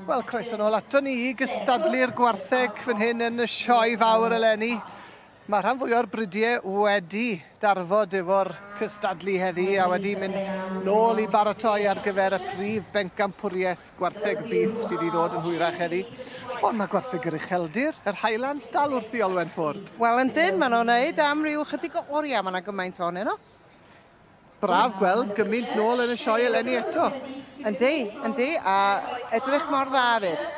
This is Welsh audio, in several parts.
Wel, croeso nôl ato ni i gystadlu'r gwartheg fan hyn yn y sioe fawr eleni. Mae rhan fwy o'r bridiau wedi darfod efo'r cystadlu heddi a wedi mynd nôl i baratoi ar gyfer y prif bencampwriaeth Gwartheg bîff sydd i ddod yn hwyrach heddi. Ond mae gwartheg yr ucheldir, yr Highlands, dal wrth i Olwen ffwrdd. Wel, yndyn, maen nhw'n wneud am ryw chydig o oriau, mae yna gymaint o nhw. Braf gweld gymaint nôl yn y sioe eleni eto. Yndi, yndi, a edrych mor dda fyd.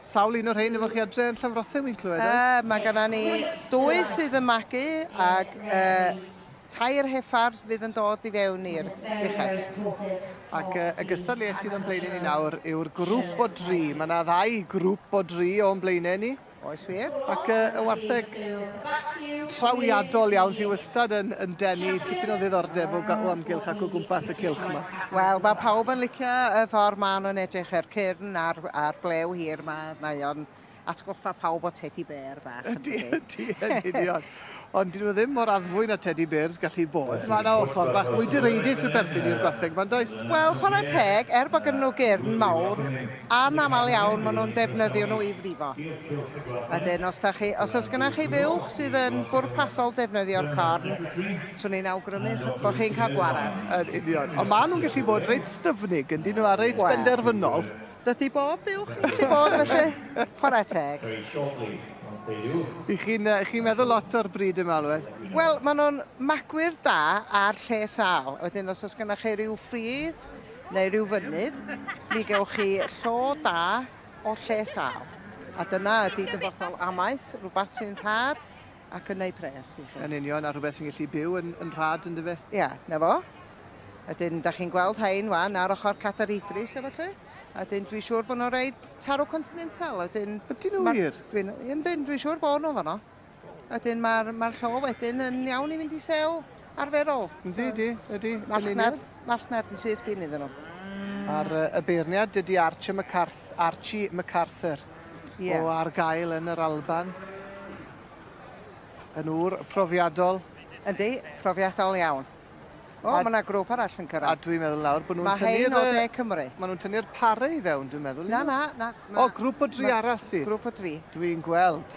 Sawl un o'r rhain efo chi adre yn Llanfrothe, wy'n clywed, oes? Uh, mae gyda ni dwy sydd yn magu ac uh, Tair hephardd fydd yn dod i fewn i'r uchel. Ac y gystadleuaeth sydd o'n blaenau ni nawr yw'r grŵp o dri. Mae yna ddau grŵp o dri o'n blaenau ni. Oes wir. Ac y, y wartheg trawiadol iawn sy'n wastad yn, yn denu tipyn o ddiddordeb o, o amgylch ac o gwmpas y cilch yma. Wel, mae pawb yn licio y ffordd maen nhw'n edrych, yr cyrn a'r, a'r blew hir yma. Mae o'n atgoffa pawb o tedi bêr fach. Ydy, ydy, yn union. Ond dyn nhw ddim mor addfwy na tedi bêrs gallu bod. Mae yna ochr bach mwy direidus sy'n perthyn i'r gwartheg ma'n does? Wel, chwarae teg, er bod gen nhw gyrn mawr, anaml iawn maen nhw'n defnyddio nhw i frifo. Ydyn, os, da chi, os oes gennych chi fuwch sydd yn bwrpasol defnyddio'r corn, swn i'n awgrymu bod chi'n cael gwared. Yn union. Ond maen nhw'n gallu bod reit styfnig, yn dyn nhw, a reit well. benderfynol. Dydy bob buwch yn gallu bod felly. Chwarae teg. I chi'n uh, chi meddwl lot o'r bryd yma, Alwen? Wel, maen nhw'n magwyr da a'r lle sal. Wedyn, os oes gennych chi rhyw ffridd neu rhyw fynydd, mi gewch chi llo da o lle sal. A dyna ydy dyfodol amaeth, rhywbeth sy'n rhad, ac yn eu pres i chi. Yn union, a rhywbeth sy'n gallu byw yn, yn rhad yn dyfe? Ia, yeah, na fo. A dyn, da chi'n gweld hein wan ar ochr Catar Idris efo lle? A dyn, dwi'n siŵr bod nhw'n rhaid taro continental. A dyn... Ydyn nhw wir? Dwi'n, dwi'n, dwi'n siŵr bod nhw fanno. A dyn, mae'r mae llo wedyn yn iawn i fynd i sel. arferol. Yndi, ydi, ydi. Marchnad, marchnad yn syth bin iddyn nhw. A'r uh, y beirniad, dydy Archie McCarth, Archie MacArthur, yeah. o ar gael yn yr Alban. Yn ŵr profiadol. Yndi, profiadol iawn. O, mae yna grŵp arall yn cyrraedd. A dwi'n meddwl nawr bod nhw'n tynnu'r... Mae hein o de Cymru. Mae nhw'n tynnu'r pare i fewn, dwi'n meddwl. Na, na, na. O, grŵp o dri arall sydd. Grŵp o dri. Dwi'n gweld.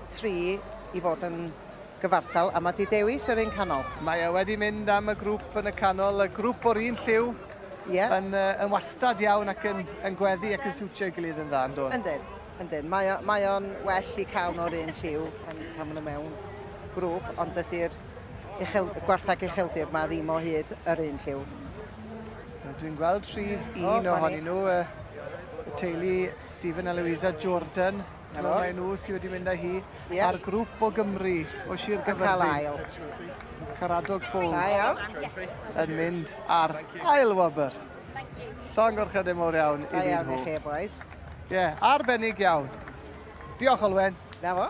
tri i fod yn gyfartal a mae 'di dewis yr un canol. Mae e wedi mynd am y grŵp yn y canol, y grŵp o'r un lliw. Ie. Yn, uh, yn wastad iawn ac yn, yn gweddi ac yn siwtio i gilydd yn dda, yn dod. Yndyn, yndyn. Mae, o, mae o'n well i cawn o'r un lliw pan, pan maen nhw mewn grŵp, ond dydy'r uchel, gwarthag ucheldir mae ddim o hyd yr un lliw. Dwi'n gweld rhif un oh, ohonyn nhw, uh, y teulu Stephen a Louisa Jordan. 'Na fo. Mae nhw sy wedi mynd â hi yeah. a'r grŵp o Gymru o Sir Gaerfyrddin. Caradog Ffôn yn mynd ar ail wobr. Llong o'r chydau mor iawn i ddyn nhw. Ie, boys. yeah, arbennig iawn. Diolch, Olwen. Na fo.